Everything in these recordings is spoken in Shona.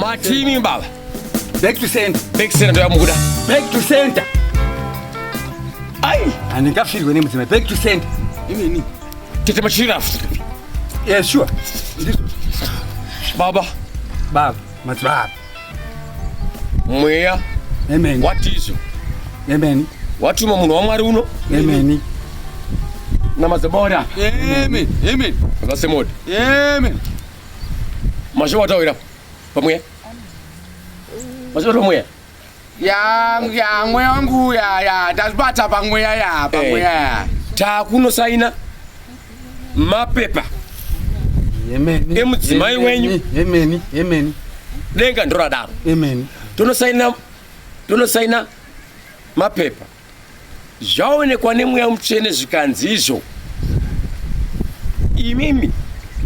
matimi baba back to center back to center ndoyamukuda back to center ai handingafirwe nemudzimai back to center inini Tete machirafu. Yeah, sure. Baba. Baba. Madzibaba. Mweya. Amen. What is you? Amen. What you munhu wamwari uno? Amen. Namadzibora. Amen. Amen. That's the mode. Amen. Mashe watawira. Pamweya. Mashe watawira. ya ya mweya wangu ya ya ndazvibata pamweya ya pamweya eh. ya takunosaina mapepa emudzimai wenyu denga ndoradaro tonosaina tonosaina mapepa zvaonekwa nemweya mutsvene zvikanzi izvo imimi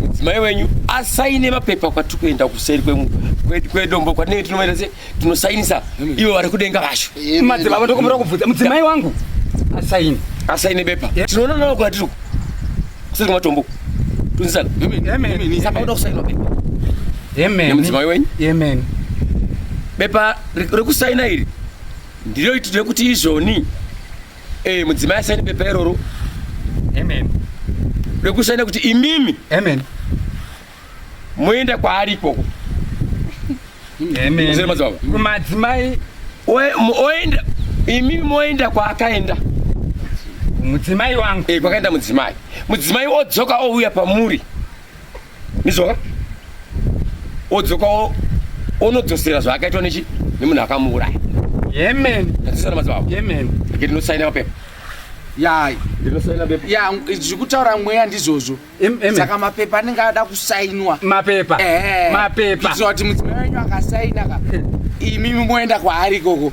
mudzimai wenyu asaine mapepa kwatiri kuenda kuseri kwedombo kwatinenge tinomaita se tinosainisa ivo vari kudenga vacho madzibaba tokumbira kubvudza mudzimai wangu asaine asaine bepa tinoona navo kwatiri kuseri kwematombo tunzisana saka uda kusainwa bepa nemudzimai wenyu bepa rekusaina iri Ndiroitidwe kuti izvoni eh, mudzimai asaine pepa iroro Amen. rekusaina kuti imimi Amen. moenda kwaari ikoko Amen. madzibaba Kumadzimai Oe- mo- oenda imimi moenda kwaakaenda mudzimai wangu. eh, kwakaenda mudzimai mudzimai odzoka ouya pamuri ndizvoka odzoka onodzosera zvaakaitwa nechi nemunhu akamuuraya yemen atisana madzibaba yemen ake tinosaina mapepa ya ndinosaina pepa ya zvekutaura mweya ndizvozvo saka mapepa anenge ada kusainwa mapepa mapepa kuitira kuti mudzimai wenyu akasaina ka imimi moenda kwaari ikoko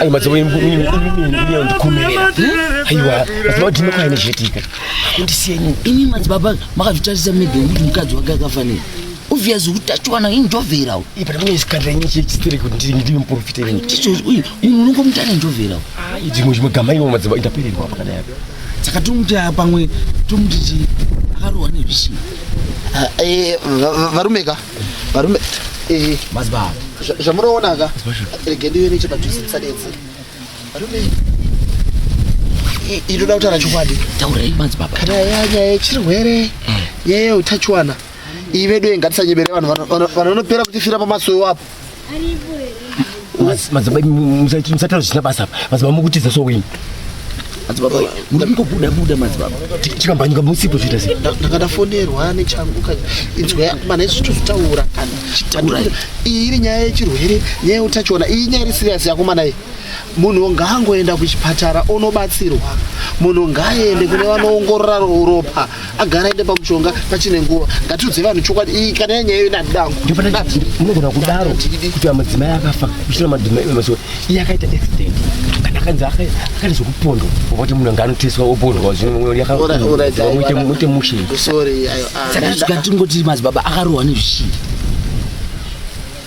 ayo madzimbo ndikumerera aiwa madzimbo ndinoka ine zvitika kundisiyenyi imi madzibaba makazvitarisa mega kuti mukadzi wake akafanira obvious utachiwana injovherawo ipana mune zikandira nyinyi chechistere kuti ndiri ndiri muprofita ini ticho uyu unongomuta ane njovherawo ayi dzimwe zvimwe gama iwo madzimbo indapererwa pakadai apa saka tomuti pamwe tomuti ti akarohwa nezvisina varume ka varume eh, Mazibaba. zva- zvamunoona ka rege ndive nechepadhuze tisadetse varume i- inoda kutaura chokwadi Taurei madzibaba. kana yaya nyaya yechirwere nyaya yeutachiwana iyi vedu iyi ngatisanyebere vanhu vano- vano- vanonopera kutifira pamasoyo apo madzibaba musataura zvisina basa apa madzibaba mukutiza so wini madzibaba muda mukobuda buda madzibaba chikambanyika musipo zvoita sei ndakadafonerwa nechangu ka inzwa mana izvi zvitozitaura kana iyi iri nyaya yechirwere nyaya yeutachiona iyi nyaya iri siriyasi yako mana iyi munhu ngaangoenda kuchipatara onobatsirwa munhu ngaaende kune vanoongorora ropa agara ende pamushonga pachine nguva ngatiudze vanhu chokwadi iyi kana yanyaya yo nadangumunogona kudaro kuti vamudzimai akafa kuchina madzimai mazuva iye akaita accident kana akanzi akaita zvekupondwa kuti munhu anga anoteswa opondwa zvinomuite mushe saka tingoti madzibaba akarohwa nezvishii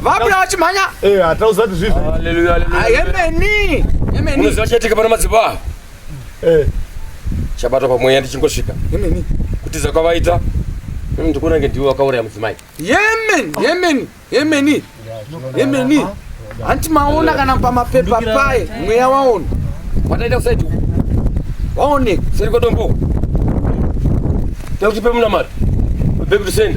Vabula vachimhanya. Eh, hata usati zvizvi. Haleluya, haleluya. Yemeni. Yemeni. Unoziva chatika pana madzibaba. Eh. Chabatwa pamweya ndichingosvika. Yemeni. Kutiza kwavaita. Mimi ndikuona nge ndiwe wakauraya mudzimai. Yemeni, yemeni, yemeni. Yemeni. Hanti maona eh. kana pamapepa paye mweya waona. Wataita kusaiti. Waone. Seri kwa dombo. Takuti pe muna mari. Baby to send.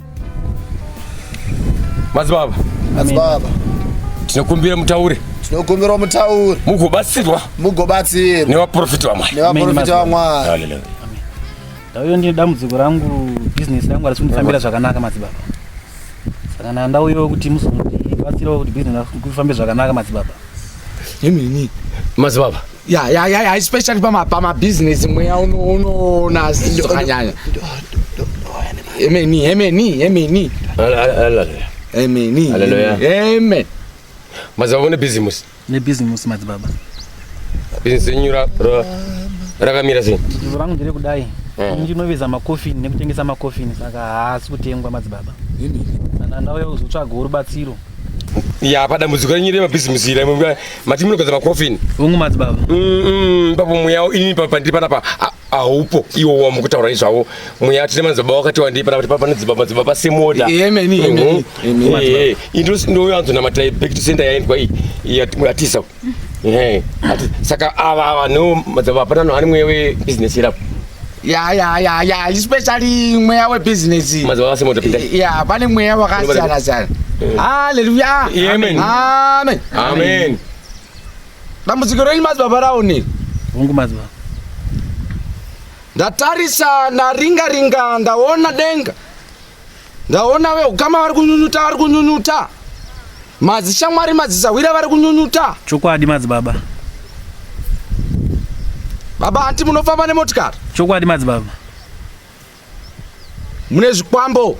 madzibaba madzibaba tinokumbira mutaure tinokumbira mutaure mugobatsirwa mugobatsirwa nevaprofita vamwari nevaprofita vamwari ndauyo ndine dambudziko rangu bhizinesi rangu harisi kundifambira zvakanaka madzibaba saka na ndauyo kuti muzobatsirawo kuti bhizinesi kufambe zvakanaka madzibaba yemini madzibaba ya ya ya ya especially pama pama business mweya uno unoona asi zvakanyanya emeni emeni emeni emeni Hallelujah. amen mazava une bhizimusi nebhizimusi madzibaba bhizimusi renyu ra- ra- rakamira sei zvinhu rangu ndiri kudai ini ndinoveza makofini nekutengesa makofini saka haasi kutengwa madzibaba saka ndauya kuzotsvaga rubatsiro ya padambudziko renyu remabhizimusi ira imwe mati munogeza macoffin hongu madzibaba ipapo mweya ini pandiri panapa haupo iwo wambo kutaura izvavo mweya tine madzibaba wakati wandii panapa kuti pane dzibaba dzibaba semoda ndoyanzonamata back to center yaendwa iyi yatisa saka ava ava no madzibaba hapana no ani mweya webusiness irapo ya ya ya ya especially mweya webhizinesi Mazuva ase moto pinda. ya pane mweya wakasiyana siyana haleluya Amen. amen Amen. dambudziko renyu madzibaba raoni Hongu madzibaba. ndatarisa ndaringa ringa ndaona denga ndaona veukama vari kunyunyuta vari kunyunyuta madzishamwari madzisahwira vari kunyunyuta chokwadi madzibaba baba hanti munofamba nemotikari chokwadi madzibaba mune zvikwambo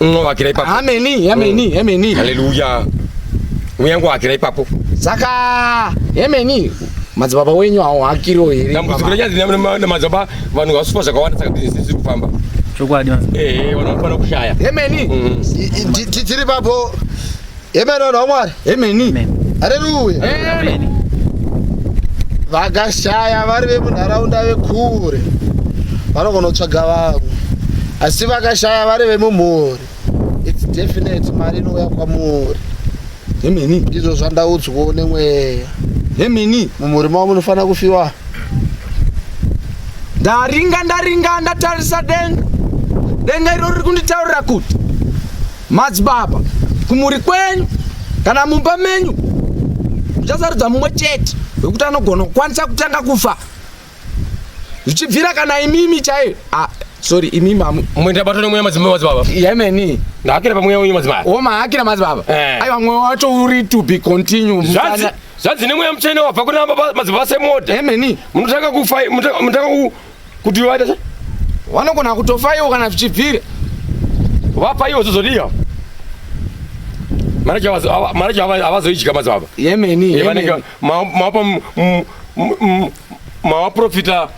Unowakira ipapo. Ameni, ameni, mm. ameni. Hallelujah. Mweya wangu wakira ipapo. Saka ameni. Madzibaba wenyu hawo hakiro here? Dambudziko renyanzi na madzibaba vanhu vasupa zvakawanda saka business iri kufamba. Chokwadi. Eh, eh, vanofanira kushaya. Ameni. Mm. Tiri papo. Amen vanhu vaMwari. Amen. Hallelujah. Amen. Vakashaya vari vemunharaunda vekure vanogona kutsvaga vamwe asi vakashaya vari vemumhuri its definite mari inouya kwamuri hemini ndizvo zvandaudzwawo nemweya hemini mumhuri mavo munofanira kufiwa ndaringa ndaringa ndatarisa denga denga iro riri kunditaurira kuti Madzibaba, kumhuri kwenyu kana mumba menyu muchasarudza mumwe chete wekuti anogona kukwanisa kutanga kufa zvichibvira kana imimi chaiyo ah, sorry imimi mumwenda bato nemweya madzimai madzibaba yemeni ndahakira pamweya wenyu madzimai womahakira madzibaba eh. aiwa mweya wacho uri to be continue zvanzi nemweya mutsvene wabva kuna madzibaba semoda yemeni munotanga kufa munotanga kuti vaita sei vanogona kutofa ivo kana zvichibvira vapa ivo zozodiya maraji havazoidya mazuva ava yemeni vanenge mawapa mawaprofita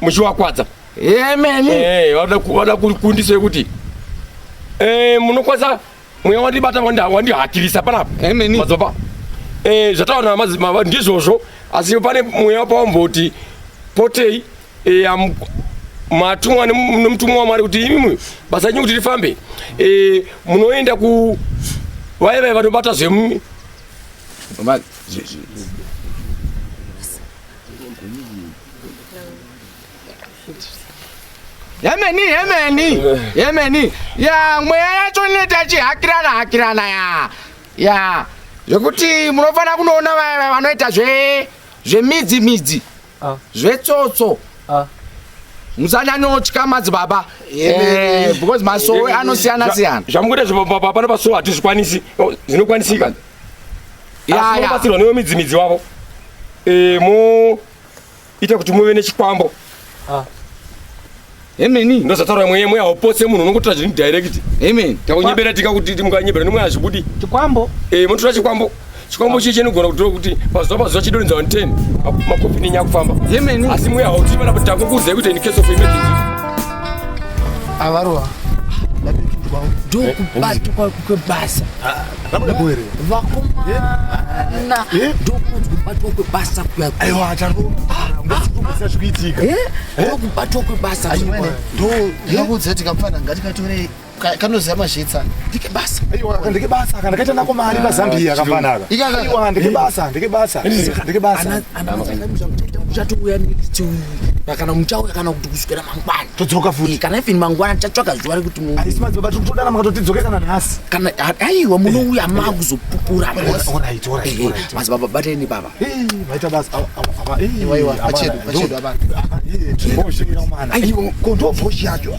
muchiwakwadza yemeni vada kukundisa yekuti eh, munokwanisa mweya wandibata wandihatirisa panapa madzibaba eh, zvataona madzibaba ndizvozvo asi pane mweya wapawamboti potei eh, matumwa nemutumwa wamwari kuti imimwe basa renyu kuti rifambe eh, munoenda ku vaye vaye vanobata zvemu Yemeni, yemeni, yemeni. Ya, mweya yacho inoita chihakirana hakirana ya. Ya, zvekuti munofanira kunoona vaya vanoita zve zvemidzi midzi. Ah. Zvetsotso. Ah. musanyanyotya madzibaba eh, because masowe anosiyana siyana zvamukuita zvepababa pano pasowe hatizvikwanisi oh, zvinokwanisika yaya batsirwa newe midzimidzi wavo eh, mo ita kuti muve nechikwambo ah. Amen. Ndozotaura mweya mweya haupotse munhu unongotora zvinhu direct. Amen. Takunyebera tika kuti mukanyebera nemweya hazvibudi. Chikwambo. Eh, munotora chikwambo. Chikwambo ah. chii chinogona kutora kuti pazuva pazuva chidorinza 10 makopi nenyaya kufamba. Amen. Asi mweya hauti pana kuti takukudzai kuti in case of emergency. Avaroa. Ndapindwa. Ndokubatwa kwebasa. vakomana ndokunzi kubatwa kwebasa kuyakubatwa kwebasa ndokuudza kuti kamfana ngatikatore kanoziva mazhitsa ndike basa ndike basa kana kaita nako mari pazambia kamfanaka ndike basa ndike basa ndike basa uchatouya nechii kana muchauya kana kuti kusvikira mangwana todzoka futi kana even mangwana tichatsvaga zuva rekuti aisi madzibaba tiri kutodana makatotidzoke kana nhasi kana aiwa munouya makuzopupura madzibaba bateni baba vaita basa aiwa ndobhoshi yacho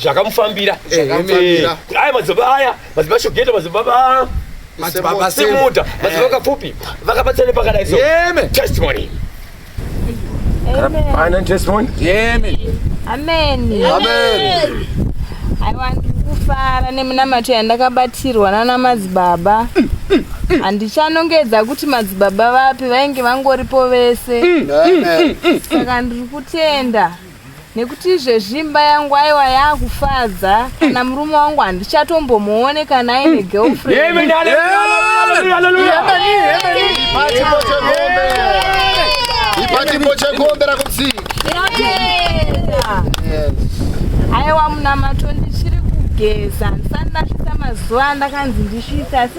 zvakamufambira aya madzibaba aya madzibaba shogeta madzibaba madzibaba simuda madzibaba kapfupi vakabatsana pakadai so testimony Final testimony. Amen. Amen. Amen. I want kufara neminamato yandakabatirwa nana madzibaba handichanongedza kuti madzibaba vapi vainge vangoripo vese saka ndiri kutenda nekuti izvezvi imba yangu aiwa yakufadza kana murume wangu handichatombomuone kana aine girlfriend Chimbo chekombe rakutsika. Aiwa munamato ndichiri kugeza ndisati ndasvitsa mazuva andakanzi ndisvitse asi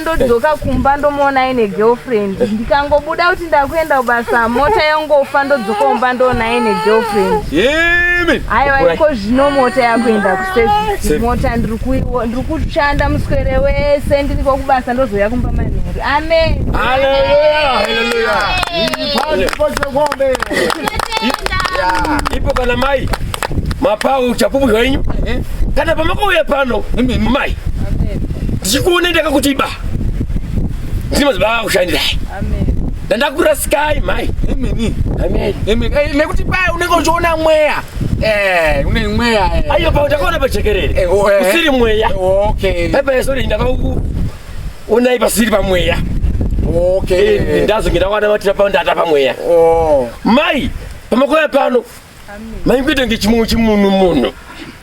ndodzoka kumba ndomuona aine girlfriend ndikangobuda kuti ndakuenda kubasa mota yongofa ndodzoka kumba ndoona aine girlfriend aiwa iko zvino mota yakuenda kuservice mota ndiri kushanda muswere wese ndiri kwakubasa ndozouya kumba manheru amen ipo kana mai mapau chapupu zvenyu eh? kana pamakauya pano mai ndichikuona ndaka kuti ba ndini mazuva ava kushandira ndandakurasikai mhai nekuti paya unenge uchiona mweya eh, une mweya eh. ayo pa ndakaona pajekerere eh, oh, usiri mweya paipaesori ndakauonai pasiri pamweya ndazonge ndakwana matira pao ndata pamweya oh. mai pamakoya pano maikuita kunge chimwe chimunhu munhu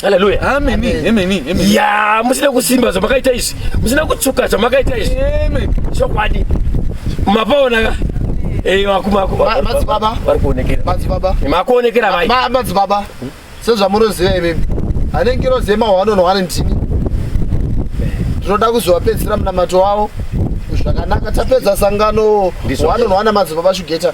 haleluya ya musina kusimba zvamakaita izvi musina kutsuka zvamakaita izvi chokwadi mapaona ka makuonekera madzibaba sezvamunoziva imimi ane ngirozi yemahwanonho wane ndini tinoda kuzovapedzisira munamato wavo zvakanaka tapedza sangano hwanonho wana madzibaba shugeta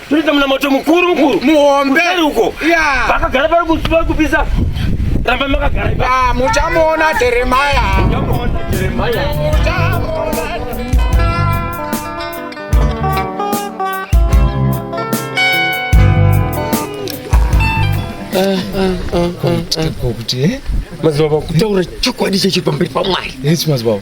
Tunoita munamato mukuru mukuru. Muhombe. Kuseri uko. Yeah. Vakagara pari kusuva kupisa. Ramba makagara ipa. Ah, muchamuona Jeremiah. Muchamuona Jeremiah. Muchamuona. Kuti eh? Mazibaba kutaura chokwadi chechiri pamberi pamwari. Yes mazibaba.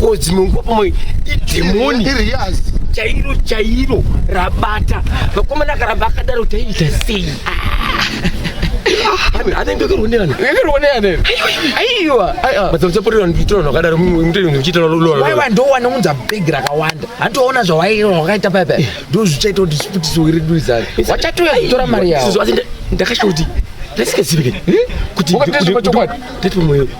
kozi mungopoma idhemoni chairo chairo rabata vakomana akaramba akadaro taiita sei anenge akirwoneana akirwoneana aiwa matsamusaporera nditora zvakadaro muchiita waiwa ndowana unza bhegi rakawanda handiwaona zvawaira wakaita paipa ndozvichaita kuti zviputiso redu izari wachatouya kutora mari yavo ndakashoti ndasikazivi kuti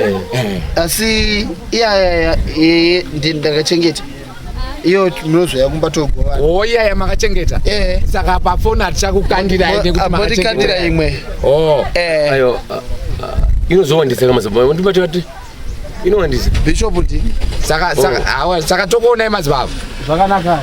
eh. asi iyaya ee ndakachengeta iyo munozoya kumba togovana o oh, iyaya makachengeta eh. saka pafoni hatichakukandira ende kuti makachengeta imwe o oh. eh. ayo uh, uh, inozowandisa kamazababa ndimati vati inowandisa bishop ndini saka saka oh. saka tokuonai mazibaba zvakanaka